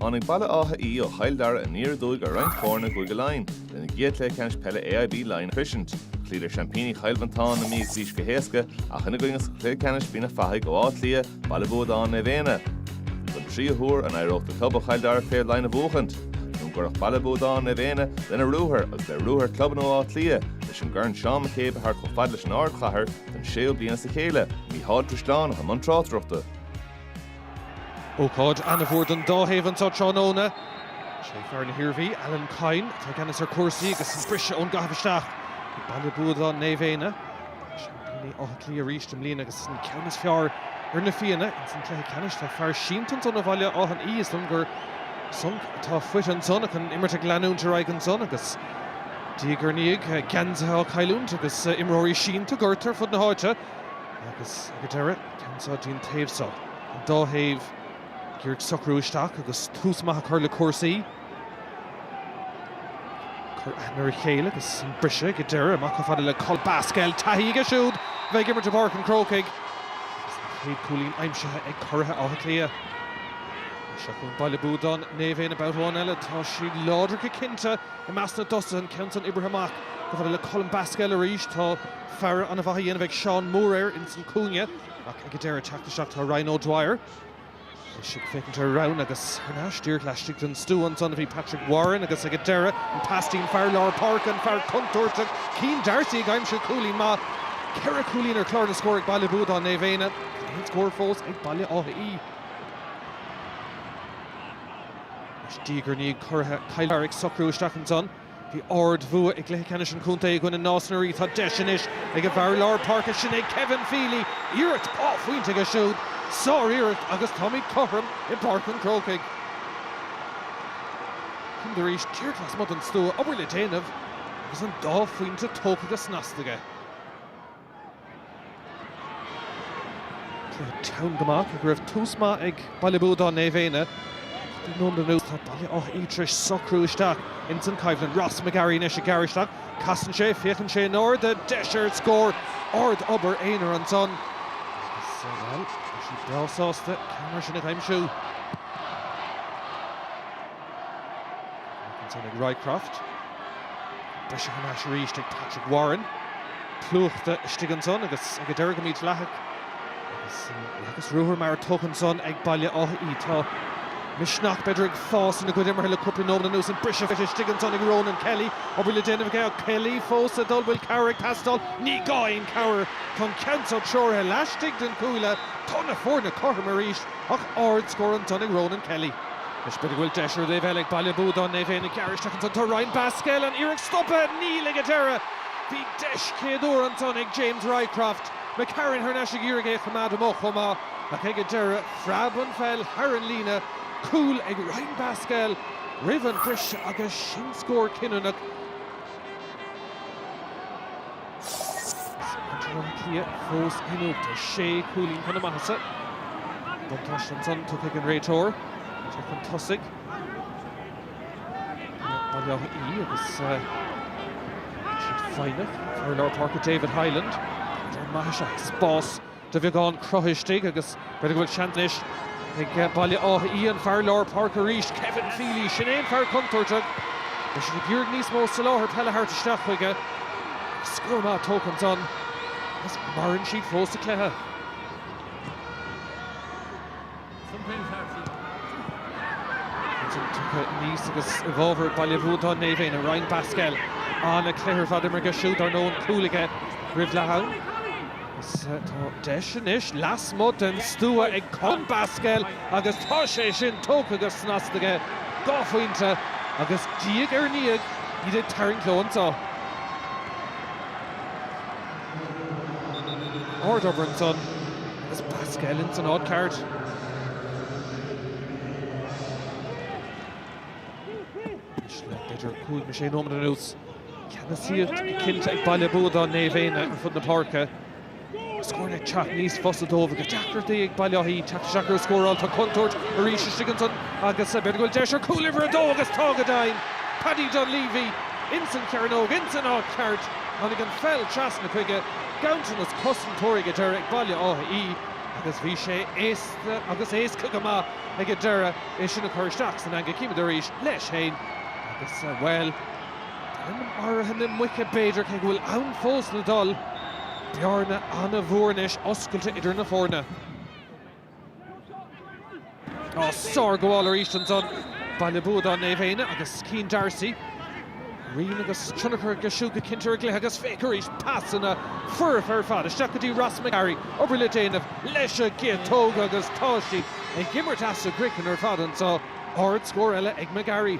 Tháinig Baile Átha Í ó Chill Dara aniar aduaidh ar roinnt foirne i gCúige Laighean lena gcéad chluiche ceannais peile AIB Laighean a shroisint. Chloíodar seaimpíní Chill Mhantáin na Mí agus Laoise go héasca ach ina gcoinne sa chluiche ceannais bhí na fathaigh ó Áth Cliath, Baile Buadáin Naomh Éanna. Don tríú huair, an éireodh do club ó Chill Dara craobh Laighean a bhuachaint? Nó an gcuirfeadh Baile Buadáin Naomh Éanna lena ruathar agus le ruathar clubanna ó Áth Cliath leis an gcorn Seán McCabe a thabhairt chomh fada leis an ardchathair don séú bliain as a chéile? Mícheál Ó Drisleáin a bhí i mbun tráchtaireachta. Ócáid an-mhór don dá thaobh anseo tráthnóna. Sé fear na hIarmhí, Alan Coyne, atá i gceannas ar chúrsaí agus an briseadh ón gcaitheamh isteach ag Baile Buadáin Naomh Éanna, seaimpíní Átha Cliath arís i mbliana, agus an ceann is fearr ar na Fianna ins an cluiche ceannais. Tá fear sínte ansan ó Bhaile Átha Í, is dóigh liom gur sonc atá faighte ansan ach an imirt ag leanúint ar aghaidh ansan agus diaidh ar ndiaidh geansaithe á cailliúint agus imreoirí sínte gortaithe ar fud na háite agus ag an deireadh ceann san go dtí an taobh so. An dá thaobh ag iarraidh socrú isteach agus tús maith a chur le cúrsaí. Cur aithne ar a chéile agus an briseadh ag an deireadh. Amach chomh fada le Colm Basquel. Taithí aige siúd bheith ag imirt i bPáirc an Chrócaigh agus an chéad chúilín aimsithe ag curaithe Átha Cliath. Seo chugainn Baile Buadáin Naomh Éanna babhta amháin eile. Tá siad láidir go cinnte i measc na dtosaithe. An ceann san oibrithe amach chomh fada le Colm Basquel arís. Tá. faire ana mhaith á dhéanamh ag Seán Moore air ins an cúinne ach ag a deireadh teacht isteach tá Ryan O'Dwyer anois ag féachaint ar na roghanna agus thar n-ais díreach laistigh den stua ansan a bhí Patrick Warren agus ag a deireadh an pas go dtí an fear lár páirce an fear contúirteach Céin D'Arcy ag aimsiú cúilín maith ceithre cúilín ar chlár na scór ag Baile Buadáin Naomh Éanna gan aon scór fós ag Baile Átha Í. Anois diaidh ar ndiaidh curaithe Chill Dara ag socrú isteach ansan. Bhí ard-bhua i gcluiche ceannais an chontae i gcoinne Nás na Rí. Tá deis anois ag an bhfear lár páirce sin, ag Kevin Feely, iarracht dhá phointe aige siúd. Sár-iarracht agus táimid cothrom i bPáirc an Chrócaigh. Cond arís, díreach lasmuigh den stua, obair le déanamh agus an dá phointe tógtha go snasta aige. Tá teanga amach go raibh tús maith ag Baile Buadáin Naomh Éanna. Tá Dún na nGall, tá Baile Átha Í tar éis socrú isteach ins an choimhlint. Ross McGarry anois ag gearradh isteach, casann sé, féachann sé in airde, deis ar an scór. Ard obair aonair ansan agus, bhuel, tá siad breá sásta ceann mar sin a aimsiú. ansan ag Roycroft. Briseadh thar n-ais arís ag Patrick Warren. Plúchta istigh ansan agus ag a deireadh go mídhleathach agus ruathar maith tógtha ansan ag Baile Átha Í. Tá misneach, b'fhéidir, ag fás ina gcuid imeartha le cúpla nóiméad anuas. An briseadh istigh ansan ag Ronan Kelly. Obair le déanamh aige ach Kelly fós le dul. Bhfuil cabhair ag teastáil? Ní gá aon chabhair. Tá an ceann seo treoraithe laistigh den chuaille, tá na foirne cothrom arís. ach ard scór ansan ag Ronan Kelly. Is b'fhéidir go bhfuil deis ar an dtaobh eile ag Baile Buadáin Naomh Éanna gearradh isteach ansan. Tá Ryan Basquel an iarracht stoptha aige, níl ag an deireadh. Bhí deis chéad uair ansan ag James Roycroft. McCarron thar n-ais ag iarraidh é a choimeád amach chomh maith ach ag an deireadh phreab an pheil thar an líne. Cúl ag Ryan Basquel roimh an bhriseadh agus sin scór cinniúnach. Baile Átha Cliath fós ansiúd sé chúilín chun na maitheasa. Buntáiste ansan tugtha ag an réiteoir teacht chun tosaigh Baile Átha Í agus siad foighneach. Fear lár páirce David Hyland, an maith is ea spás. de bheagán cruthaithe istigh agus b'fhéidir go bhfuil seans anois ag Baile Átha Í an fear lár páirce arís, Kevin Feely, sin é an fear contúirteach. Beidh siad ag iarraidh níos mó soláthar peile a thabhairt isteach chuige. Scór maith tógtha ansan agus maireann siad fós sa chluiche. Aníos agus i bhfabhar Baile Bhuadáin Naomh Éanna, Ryan Basquel. An-chluiche ar fad imeartha aige siúd, ar ndóigh, an cúl aige roimh leath am. Agus tá deis anois lasmuigh den stua ag Colm Basquel agus tá sé sin tógtha go snasta aige. Dhá phointe agus diaidh ar ndiaidh iad ag tarraingt leo anseo. Ard obair ansan is Basquel ins an áit cheart. B'fhéidir le cúig nó sé nóiméad anuas, ceannasaíocht cinnte ag Baile Buadáin Naomh Éanna ar fud na páirce. Scór ag teacht níos fusa dóibh agus deacrachtaí ag Baile Átha Í teacht isteach ar scóráil. Tá contúirt arís istigh ansan agus b'fhéidir go bhfuil deis ar chúl uimhir a dó agus tá go deimhin! Paddy Dunleavy ins an chearnóg, ins an áit cheart. Tháinig an pheil trasna chuige, ganntanas cosantóirí ag an deireadh ag Baile Átha Í agus bhí sé éasca agus éasca go maith ag an deireadh é sin a chur isteach san eangaigh. Chímid arís leis féin agus, bhuel, in áirithe na muice b'fhéidir, cé go bhfuil am fós le dul, bearna an-mhór anois oscailte idir na foirne. Ó sár-ghabháil arís ansan Baile Buadáin, Naomh Éanna agus Cian D'arcy. Rian agus tionchar aige siúd go cinnte ar a gcluiche agus féach arís pasanna foirfe ar fad isteach go dtí Ross McGarry. Obair le déanamh leis é a thógaint agus táid siad ag imirt as a gcroiceann ar fad anseo. Ard scór eile ag McGarry.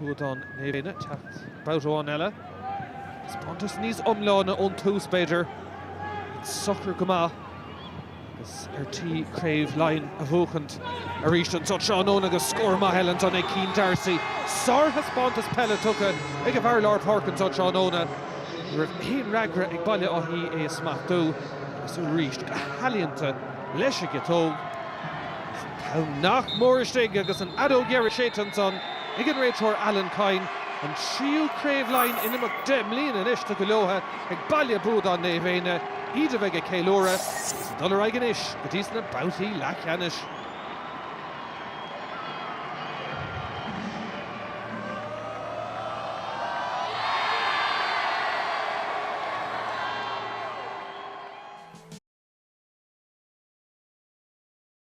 Buadáin Naomh Éanna an t-éacht babhta amháin eile. Taispeántas níos iomláine ón tús, b'fhéidir. Iad socair go maith agus ar tí craobh Laighean a bhuachan arís anso tráthnóna agus scór maith eile ansan ag Cian D'Arcy. Sárthaispeántas peile tugtha ag a bhfear lár páirce anso tráthnóna. Ní raibh aon fhreagra ag Baile Átha Í é a smachtú agus arís go healaíonta leis an gciotóg. An t-am nach mór istigh agus an fheadóg dheiridh séite ansan ag an réiteoir Alan Kyne, an tríú craobh Laighean in imeacht deich mbliana anois tugtha leothu ag Baile Buadáin Naomh Éanna iad a bheidh ag ceiliúradh agus ag dul ar aghaidh anois go dtís na babhtaí leathcheannais.